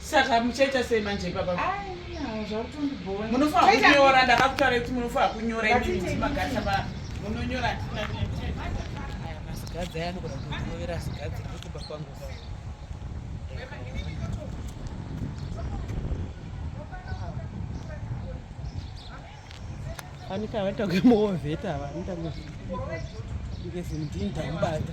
saka muchaita sei manje ipapa munofanira kunyora ndakakutaura kuti munofanira kunyora imimagasa pa munonyora asikadzi aya anogona kunyovera asikadzi kukuba kwangu anika vatakumooveta ava anitangezimdinda mbata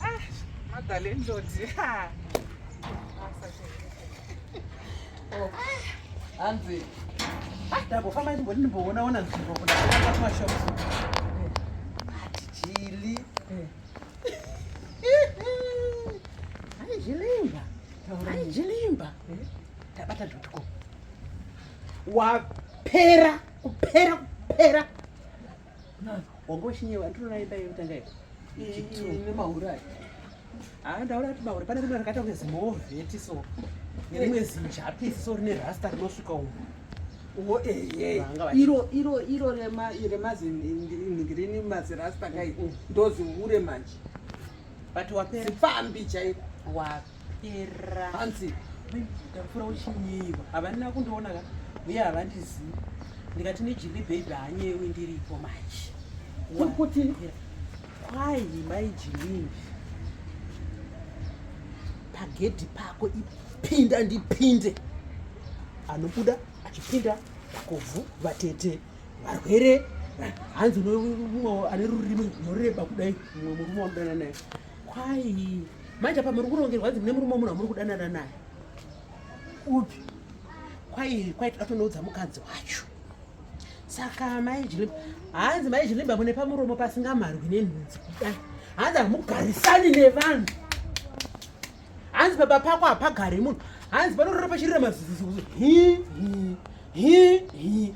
Ah, mother landlord. Ah. Oh. Hanzi. Ah, dabo famba ndimboni ndimboona ona nzvimbo kuna kutanga kuma shops. Chili. Ai jilimba. Ai jilimba. Tabata dotko. Wapera kupera kupera. Wango shinye vantu rona ipa ipa tanga ipa. Ne maura. Ah ndaura kuti maura pane rimwe rakata kunzi moveti so. Ne rimwe zinjapi so rine rasta rinosvika umu. Wo eh eh. Iro iro iro rema rema zingirini mazirasta kai. Ndozi hure manje. But wapera. Sipambi chaipo. Wapi. hanzi ndakufura uchinyeyiwa havanina kundiona ka uye havandizivi ndikati nejili bhebhi hanyewi ndiripo manje kuti kwai mai jilini pagedhi pako ipinda ndipinde anobuda achipinda vakobvu vatete varwere hanzi mumwe ane rurimi runoreba kudai mumwe murume wamudana naye Kwai manje apa muri kurongerwa dzi mune murume munhu amuri kudanana naye upi kwai kwai toda tonoudza mukadzi wacho saka mai jilimba hanzi mai jilimba mune pamuromo pasingamarwi nenhunzi kuda hanzi hamugarisani nevanhu hanzi baba pako hapagari munhu hanzi panorora pachirira mazuzuzuzu hi hi hi hi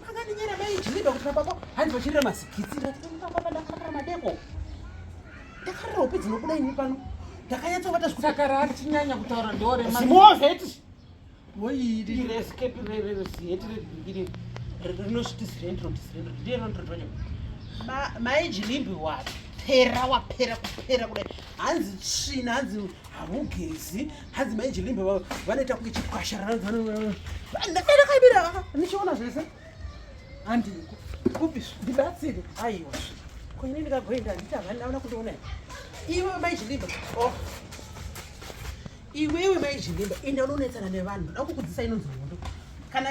Makandinyera mai Jiriba kuti baba hanzi vachirira mazikitsi ndakababa ndakarira madeko. Ndakarira hope dzinobuda ini pano. Ndakanyatsovata zvekuti saka raatinyanya kutaura ndore manje. Zimovheti. Woyiri. Iri escape rere ziheti rebhingiri. Rinosvitisirendro tisirendro. Ndiye rondro ndonyo. Mai Jirimbi wapi? Pera wapera kupera kudai. Hanzi tsvina hanzi hamugezi. hanzi maiji limbe vanoita kunge chikwasharaaakaibira ndichiona zvese handi kupi ndibatsire aiwa koine ndikagoenda handiti havani ndaona kundiona iwe maiji limbe oh. iwewe maiji limbe enda unonetsana nevanhu ndakukudzisa inonzi hondo kana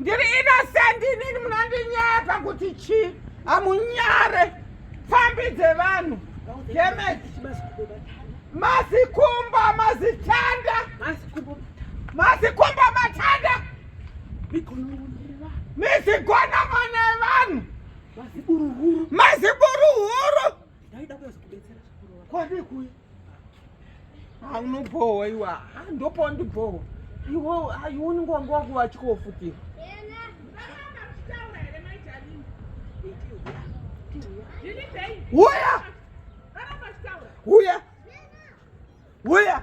ndiri innocent inini munondinyepa kuti chi amunyare pfambi dzevanhu demet mazikumba mazitanda mazikumba matanda mizigonamo nevanhu maziburuhuru haunobhohwa iwa ndopawa ndibhohwa iwo haioni nguva nguva kuva achikofutira Uya! Uya! Uya!